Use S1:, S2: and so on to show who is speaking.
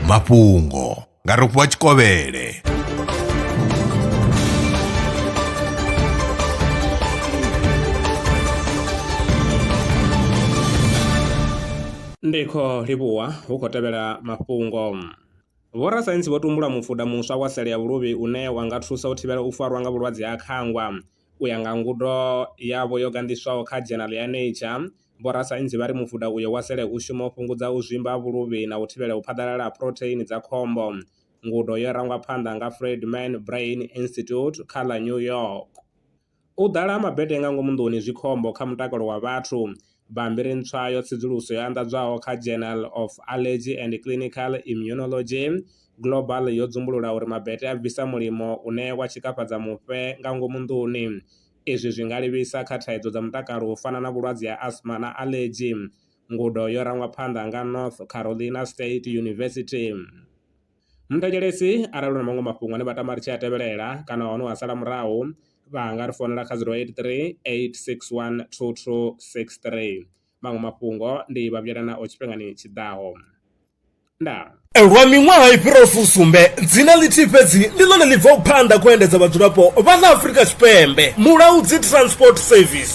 S1: mafhungo nga rofhiwa tshikovhele ndi kho livhuwa hu khou tevhela mafhungo vhorasaintsi vho tumbula mufuda muswa wa sele ya vhuluvhi une wa nga thusa u thivhela u farwa nga vhulwadze ha khangwa U ya nga ngudo yavho yo ganḓiswaho kha dzhenala ya Nature, vhorasaintsi vha ri mufuda uyo wa sele u shuma u fhungudza u zwimba ha vhuluvhi na u thivhela u phaḓalala ha phurotheini dza khombo. Ngudo yo rangwa phanḓa nga Friedman Brain Institute kha ḽa New York. U ḓala ha mabete nga ngomu nḓuni zwi khombo kha mutakalo wa vhathu. Bammbiri ntswa yo tsedzuluso yo anḓadzwaho kha Journal of Allergy and Clinical Immunology, Global yo dzumbulula uri mabete a bvisa mulimo une wa tshikafhadza mufhe nga ngomu nḓuni. Izwi zwi nga livhisa kha thaidzo dza mutakalo u fana na vhulwadze ha asthma na aḽedzhi. Ngudo yo rangwa phanḓa nga North Carolina State University. Ni thetshelesi arali huna maṅwe mafhungo ane vha tama ri tshi a tevhelela kana hone wa sala murahu vha nga ri founela kha zero eight three eight six one two two six three maṅwe mafhungo ndi vha vhuyelwa nao tshifhingani tshiḓaho ndaa. Lwa miṅwaha i fhiraho fusumbe, dzina ḽithihi fhedzi ndi ḽone ḽi bvaho phanḓa khou endedza vhadzulapo vha ḽa Afrika Tshipembe, Mulaudzi Transport Service.